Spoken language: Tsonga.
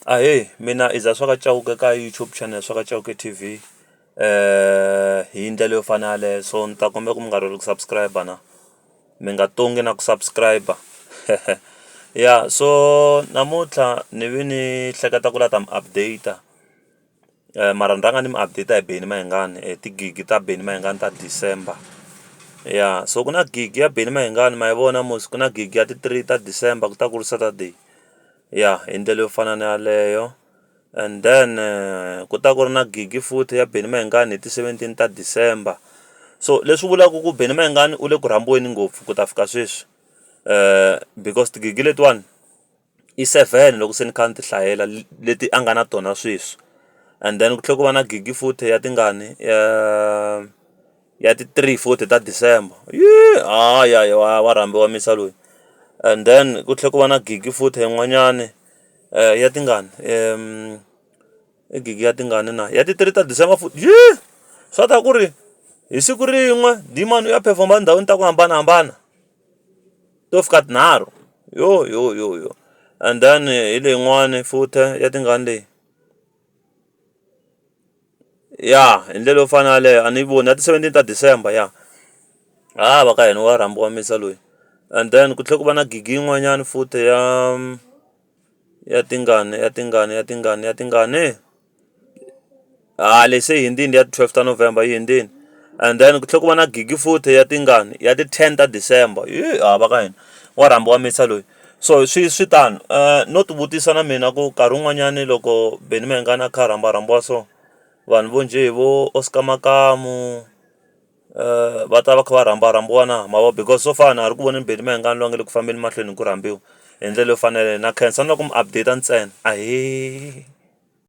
Ahee mina i za swa ka Chauke ka YouTube channel swa ka Chauke T_V hi ndlela yo fana na yaleyo so ni ta kombela ku mi nga rivali ku subscribe na mi nga tongi na ku subscribe ya so namuntlha ni ve ni hleketa ku lava ku ta mi update. mara ni rhanga ni mi update hi Benny Mayengani hi ti gig-i ta Benny Mayengani ta December ya so ku na gig ya Benny Mayengani ma yi vona mos ku na gig ya ti three ta December ku ta ku ri Saturday ya hi ndlela yo fana na yaleyo and then ku ta ku ri na gig futhi ya Benny Mayengani hi ti seventeen ta December so leswi vulaka ku Benny Mayengani u le ku rhambiweni ngopfu ku ta fika sweswi because ti-gig-i letiwani. i seven loko se ni kha ni ti hlayela leti a nga na tona sweswi and then ku tlhela ku va na gidi futhi ya tingani ya ya ti three futhi ta December ha ya ya wa wa rhambiwa Musa loyi and then ku tlhela ku va na gidi futhi yin'wanyani ya tingani i gidi ya tingani na ya ti three ta December futhi swa tiva ku ri hi siku rin'we dimani u ya perform-a etindhawini ta ku hambanahambana. to fika tinharhu yo yo yo yo and then hi leyin'wani futa ya tingani leyi ya hi ndlela yo fana na yaleyo a ni yi voni ya ti-seventeen ta December ya ha va ka hina wa rhambiwa Misa loyi and then ku tlhela ku va na gigi yin'wanyani futhi ya ya tingani ya tingani ya tingani ya tingani. A lexi i hundzini ya twelve ta November yi hundzini and then ku tlhela ku va na gidi futhi ya tingani ya ti ten ta December a va ka hina wa rhambiwa mixer loyi so swi swi tano no ti vutisa na mina ku nkarhi wun'wanyani loko Benny Mayengani a kha a rhamba rhambiwa so vanhu vo njhe hi vo Oscar Makamu va ta va kha va rhamba rhambiwa na ma vo because so far a na ha ri ku voneni Benny Mayengani loyi a nga le ku fambeni mahlweni hi ku rhambiwa hi ndlela yo fanela na khensa na ku mi update ntsena ahee.